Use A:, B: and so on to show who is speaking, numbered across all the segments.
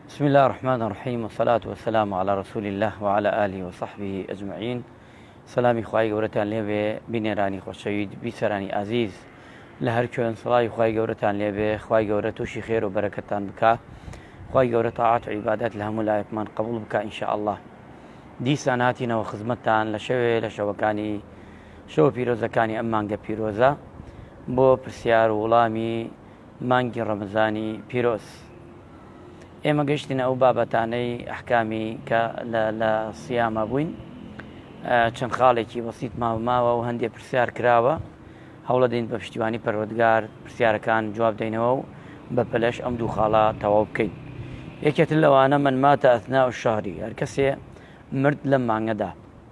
A: بسم الله الرحمن الرحیم وصلاة وسلام على رسول الله وعلى آله وصحبه أجمعين سلامی خی گەورەتان لێبێ بینێرانی خۆشەوید بیسەرانی ئازیز لە هەر کوێن سڵاوی خی گەورەتان لێبێ خی گەورە تووشی خێر و بەرەکەتان بکە خی گەورە تاعات و عیبادات لە هەموو لایەکمان قبول بکە انشاء الله دیسان هاتینەوە خزمەتتان لە شەوێ لە شەوەکانی شەوە پیرۆزەکانی ئەم مانگە پیرۆزە بۆ پرسیار و وڵامی مانگی ڕەمەزانی پیرۆز ئێمە گەشتینە ئەو بابەتانەی ئەحکامی کە لە سیامە بووین چەند خاڵێکی بەسییت ماوماوە و هەندێک پرسیار کراوە هەوڵە دەین بە پشتیوانی پەروەگار پرسیارەکان جواب دەینەوە و بە پەلەش ئەم دوو خاڵە تەواو بکەین یەکێت لەوانە من ماتە ئەثنا و شاری هەرکەسێ مرد لەم مانگەدا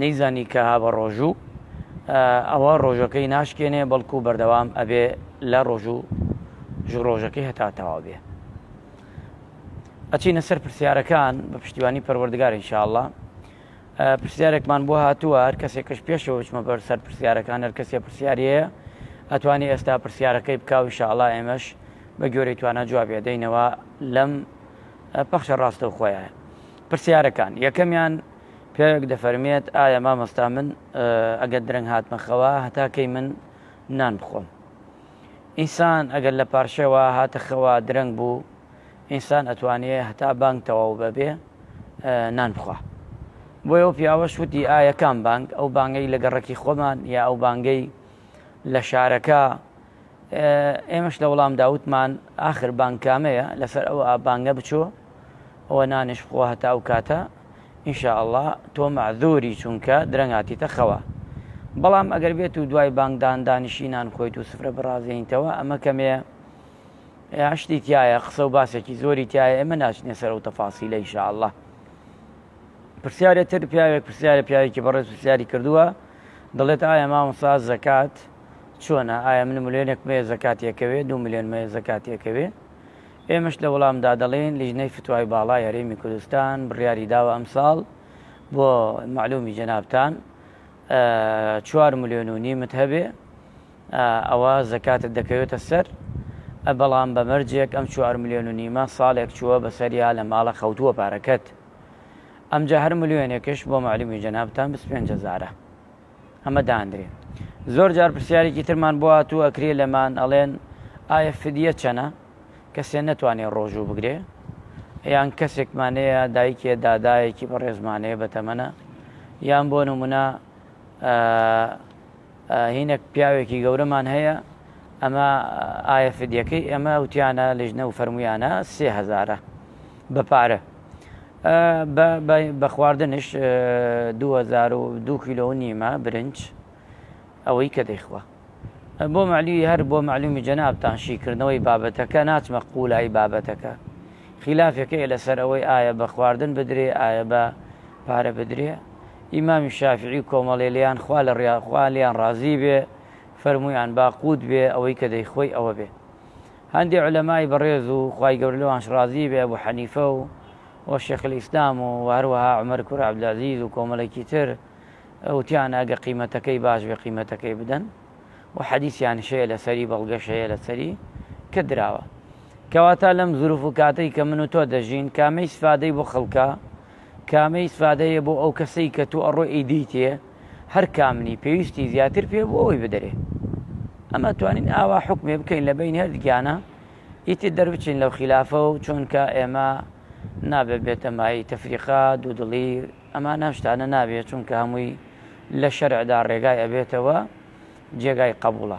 A: نەیزانی کە هابەڕۆژوو ئەوە ڕۆژەکەی ناشکێنێ بەڵکو بەردەوام ئەبێ لە ڕۆژوو ژڕۆژەکەی هەتا تەواو بێ ئەچینە سەر پرسیارەکان بە پشتیوانی پەروەردگار انشاءله پرسیارێکمان بۆ هاتووە هەر کەسێکش پێشەوە بچمە بەر سەر پرسیارەکان هەر کەسێ پرسیارەیە ئەتوانی ئێستا پرسیارەکەی بکاو انشاءله ئێمەش بە گۆری توانە جوابێ دەینەوە لەم پەخشە ڕاستە و خۆیان پرسیارەکان یەکەمیان پیاوێک دەفەرمێت ئایا مامۆستا من ئەگەر درەنگ هاتمە خەوا هەتا کەی من نان بخۆم ئینسان ئەگەر لە پارشەوە هاتە خەوا درەنگ بوو ئینسان ئەتوانێ هەتا بانگ تەواو بەبێ نان بخوا بۆ ئەو پیاوە شوتی ئایا کام بانگ ئەو بانگەی لە گەڕەکی خۆمان یا ئەو بانگەی لە شارەکە ئێمەش لە وەڵامدا وتمان، ئاخر بانگ کامەیە، لەسەر ئەو بانگە بچۆ، ئەوە نانێش بخۆ هەتا ئەو کاتە، ان شاء اللە تۆ مەعزوری چونکە درەنگ هاتیتە خەوا. بەڵام ئەگەر بێت و دوای بانگدان دانیشی نان خۆیت و سفرە بڕازێنیتەوە ئەمە کەمێ شتی تیایە، قسە و باسێکی زۆری تیایە، ئێمە ناچینە سەر ئەو تەفاسیلە ان شاء اللە. پرسیارێ تر، پیاوێک پرسیارێ پیاوێکی بەڕێز پرسیاری کردووە، دەڵێت ئایا مامۆستا زەکات چۆنە ئایا من ملێۆنێک مەیە زەکاتی ئەکەوێ دوو ملێۆن مەیە زەکاتی ئەکەوێ ئێمەش لە وڵامدا دەڵێین لیژنەی فتوای باڵای هەرێمی کوردستان بڕیاری داوە ئەمساڵ بۆ معلومی جەنابتان چوار ملێۆن و نیمت هەبێ ئەوە زەکاتت دەکەوێتە سەر بەڵام بە مەرجێک ئەم چوار ملێۆن و نیمە ساڵێک چووە بەسەریا لە ماڵە خەوتووە پارەکەت ئەمجا هەر ملێۆنێکش بۆ معلومی جەنابتان بسپێن جەزارە. ئەمە دانرێ زۆر جار پرسیارێکی ترمان بۆ هاتوو ئەکرێ لەمان ئەڵێن ئایا فدیە چەنە کەسێ نەتوانێ ڕۆژوو بگرێ یان کەسێکمانەیە دایکێ دادایەکی بە ڕێزمانەیە بەتەمەە یان بۆ نمونە هینێک پیاوێکی گەورەمان هەیە ئەمە ئایا فدیەکەی ئەمە وتیانە لژنە و فەرمویانە سێهزارە بە پارە بە بە بە خواردنش دوو هەزار و دوو کیلۆ و نیمە برنج ئەوەی کە دەیخوا بۆ معلوی هەر بۆ معلومی جەنابتان شیکردنەوەی بابەتەکە ناچمە قوولایی بابەتەکە خلافەکەی لەسەر ئەوەی ئایا بە خواردن بدرێ ئایا بە پارە بدرێ ئیمامی شافعی و کۆمەڵێ لیان خوا لە ڕیاخوا لیان ڕازی بێ فەرمویان با قووت بێ ئەوەی کە دەیخۆی ئەوە بێ هەندێ عولەمای بەڕێز و خوای گەورە لەوانش ڕازی بێ ئەبو حەنیفە و و شێخ الاسلام و و هەروەها عومەر کوڕی عبدالعزیز و کۆمەڵێکی تر وتیان ئەگە قیمەتەکەی باش بێ قیمەتەکەی بدەن و حەدیسیانش هەیە لەسەری بەڵگەش هەیە لەسەری کە دراوە کەواتە لەم زروف و کاتەی کە من و تۆ دەژین کامەی سفادەی بۆ خەڵکە کامەی ئیسفادەیە بۆ ئەو کەسەی کە تۆ ئەڕۆی ئەیدەیتێ هەر کام نی پێویستی زیاتر پێ بۆ ئەوی بدەرێ ئەمە توانین ئاوا حکمێ بکەین لە بین هەر گیانە ئیتر دەربچین لەو خلافە و چۆنکە ئێمە نابێت بێتە مای تەفریقا دوودڵی ئەمە ناشتانە نابێت چونکە هەمووی لە شەرعدا ڕێگای ئەبێتەوە جێگای قبوڵە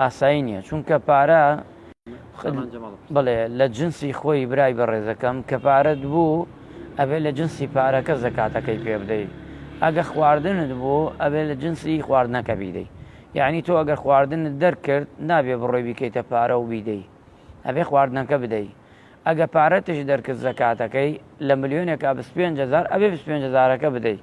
B: ئاسایی
A: نییە چونکە پارە بڵێ لە جنسی خۆی برای بە ڕێزەکەم کە پارەت بوو ئەبێ لە جنسی پارەکە زەکاتەکەی پێ بدەیت ئەگە خواردنت بۆ ئەبێ لە جنسی خواردنەکە بیدەی یعنی تۆ ئەگەر خواردن دەرکرد نابێ بڕۆی بیکەیتە پارە و بیدەی ئەبێ خواردنەکە بدەی ئەگە پارەتش دەرکرد زەکاتەکەی لە ملیۆنێکا پێ هزار ئەبێ پێ هزارەکە بدەیت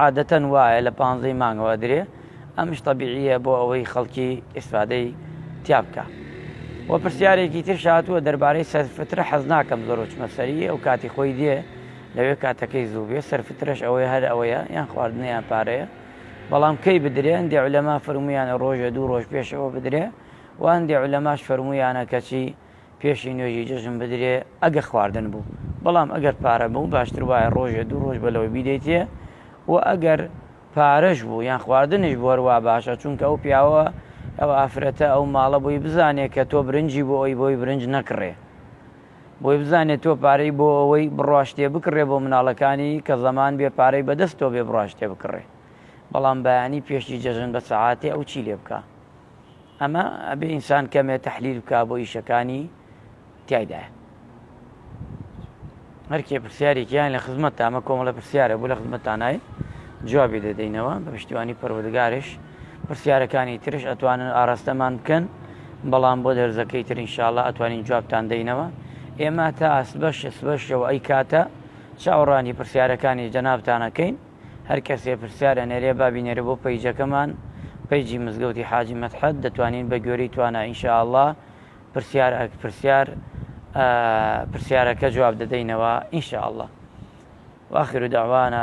A: عادەتەن وایە لە پانزەی مانگەوە ئەدرێ ئەمش تەبیعیە بۆ ئەوەی خەڵکی ئیسفادەی تیا بکا وە پرسیارێکی ترش هاتووە دەربارەی سەرفترە حەز ناکەم زۆر وچمە سەری ئەو کاتی خۆی دێ لەوێ کاتەکەی زوو بێ سەرفترش ئەوەیە هەر ئەوەیە یان خواردنیان پارەیە بەڵام کەی بدرێن دێ لەما فرمویانە ڕۆژە دوو ڕۆژ پێشەوە بدرێ وان دێ لەماش فرمویانە کەچی پێشی نوێژی جەژن بدرێ ئەگە خواردن بوو بەڵام ئەگەر پارە بوو باشتر وایە ڕۆژێ دوو ڕۆژ بەلەوەی بیدەیتێ و ئەگەر پارەش بوو یان خواردنش بوەروا باشە چونکە ئەو پیاوە ئەو ئافرەتە ئەو ماڵە بۆی بزانێ کە تۆ برنجی بۆ ئەوی بۆی برنج نەکڕێ بۆی بزانێت تۆ پارەی بۆ ئەوەی بڕاشتێ بکڕێ بۆ مناڵەکانی کە زەمان بێ پارەی بەدەست تۆ بێ بڕاشتێ بکڕێ بەڵام بەیانی پێشی جەژن بە سەعاتێ ئەو چی لێ بکە ئەمە ئەبێ ئینسان کەمێ تحلیل بکا بۆ ئیشەکانی تایدا هەرکێ پرسیارێکیان لە خزمەت تامە کۆمەڵە پرسیارە بۆ لە خزمەتانای جوابی دەدەینەوە بە پشتیوانی پەروەردگارش پرسیارەکانی ترش ئەتوانن ئاراستەمان بکەن بەڵام بۆ دەرزەکەی تر انشاءله ئەتوانین جوابتان دەینەوە ئێمە تا ئەسبەش سبەشەوە ئەی کاتە چاوەڕانی پرسیارەکانی جەنابتانەکەین هەر کەسێ پرسیار ئەنێرێ با بینێرێ بۆ پەیجەکەمان پەیجی مزگەوتی حاجی مەدحەت دەتوانین بە گوێرەی توانا ان شاء اللە پرسیار ئەک پرسیار پرسیارەکە جواب دەدەینەوە ان شاء اللە واخر دعوانا